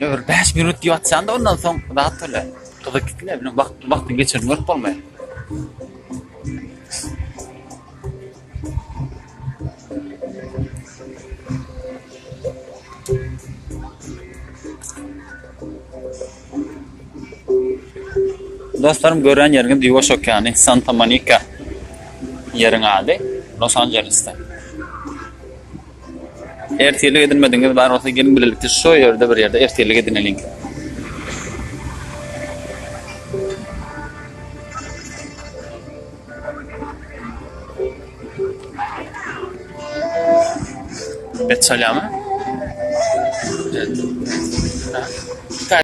Öber bäş minut diýip atýanda ondan soň zat öle. Gyzyk gitme bilen wagt wagtyň geçenini görüp bolmaýar. Dostlarym gören ýeriňiz Ýuwaş okeany, Santa Monika ýeriň ady, Los Anjelesde. Ertirlik edinmedigiňiz bar bolsa geliň bilelikde şo ýerde bir ýerde ertirlik edineliň. Bet çalýarmy? Heh.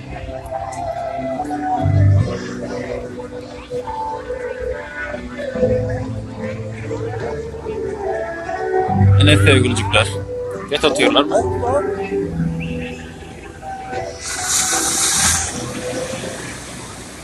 Ine sevgiljikler. Bet atýarlar mı?